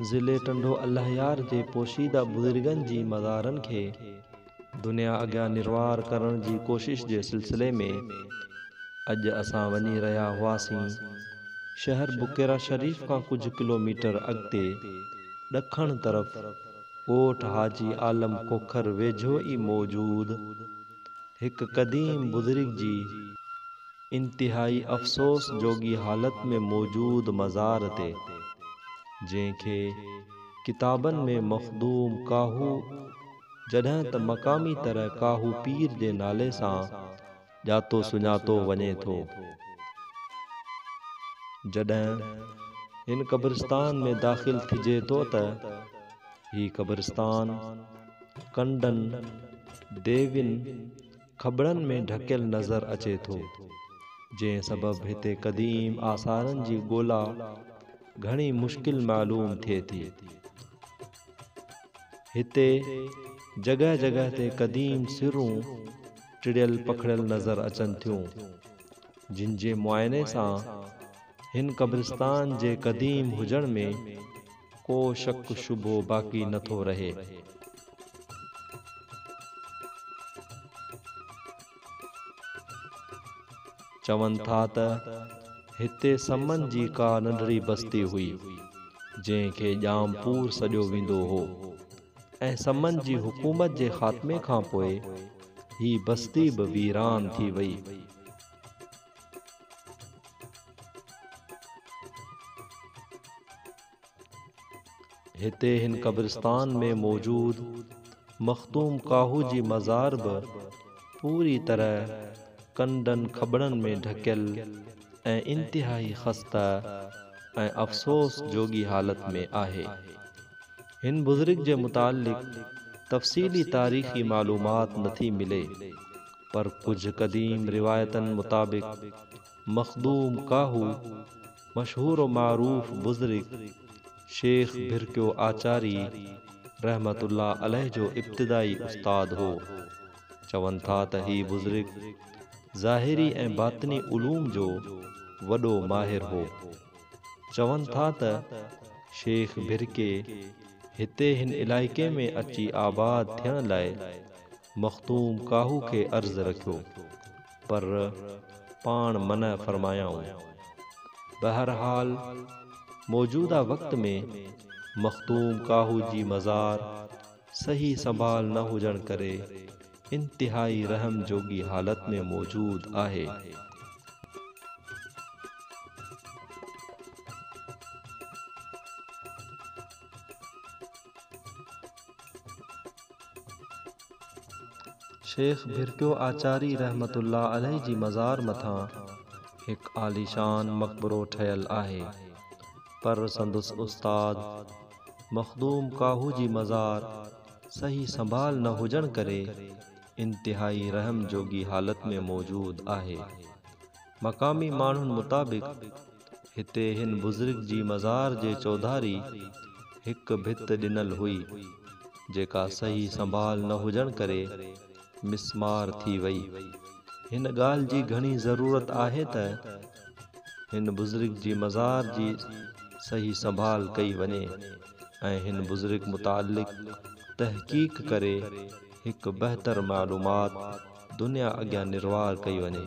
ضلعي ٽنڊو الهيار جي پوشيده بزرگن جي مزارن کي دنيا اڳيان نروار ڪرڻ جي ڪوشش جي سلسلي ۾ اڄ اسان وڃي رهيا هئاسين. شهر بڪيرا شريف کان ڪجهه ڪلوميٽر اڳتي ڏکڻ طرف ڳوٺ حاجي عالم کوکر ويجهو ئي موجود هڪ قديم بزرگ جي. انتهائي افسوس جوڳي حالت ۾ موجود مزار تي، جنهن کي ڪتابن ۾ مخدوم ڪاهو جڏهن ته مقامي طرح ڪاهو پير جي نالي سان ڄاتو سڃاتو وڃي ٿو، جڏهن هن قبرستان ۾ داخل ٿجي ٿو ته هي قبرستان ڪنڊن، ديوين، کٻڙن ۾ ڍڪيل نظر اچي ٿو، جنهن سبب هتي قديم آثارن جي ڳولا گهڻي مشڪل معلوم ٿئي ٿي. هتي جڳهه جڳهه تي قديم سرون ٽڙيل پکڙيل نظر اچن ٿيون، جن جي معائني سان هن قبرستان جي قديم هجڻ ۾ ڪو شڪ شبهو باقي نه ٿو رهي. چون ٿا ته هتي سمن جي ڪا ننڍڙي بستي هئي، جنهن کي ڄام پور سڏيو ويندو هو ۽ سمن جي حڪومت جي خاتمي کان پوء هي بستي به ويران ٿي وئي. هتي هن قبرستان ۾ موجود مخدوم ڪاهو جي مزار به پوري طرح ڪنڊن کٻڙن ۾ ڍڪيل ۽ انتهائي خسته ۽ افسوس جوڳي حالت ۾ آهي. هن بزرگ جي متعلق تفصيلي تاريخي معلومات نٿي ملي. پر ڪجهه قديم روايتن مطابق مخدوم ڪاهو مشهور و معروف بزرگ شيخ ڀرڪيو آچاري رحمة الله عليه جو ابتدائي استاد هو. چون ٿا ته هي بزرگ ظاهري ۽ باطني علوم جو وڏو ماهر هو. چون ٿا ته شيخ ڀرڪي هتي هن علائقي ۾ اچي آباد ٿيڻ لاء مخدوم ڪاهو کي عرض رکيو، پر پاڻ منع فرمايائون. بهرحال موجوده وقت ۾ مخدوم ڪاهو جي مزار صحيح سنڀال نه هجڻ ڪري انتهائي رحم جوڳي حالت ۾ موجود آهي. شيخ ڀرڪيو آچاري رحمة الله عليه جي مزار مٿان هڪ عاليشان مقبرو ٺهيل آهي، پر سندس استاد مخدوم ڪاهو جي مزار صحيح سنڀال نه هجڻ ڪري انتهائي رحم جوڳي حالت ۾ موجود آهي. مقامي ماڻهن مطابق، هتي هن بزرگ جي مزار جي چوڌاري هڪ ڀت ڏنل هئي، جيڪا صحيح سنڀال نه هجڻ ڪري مسمار ٿي وئي. هن ڳالهه جي گهڻي ضرورت آهي ته هن بزرگ جي مزار جي صحيح سنڀال ڪئي وڃي ۽ هن بزرگ متعلق تحقيق ڪري هڪ بهتر معلومات دنيا اڳيان نروار ڪئي وڃي.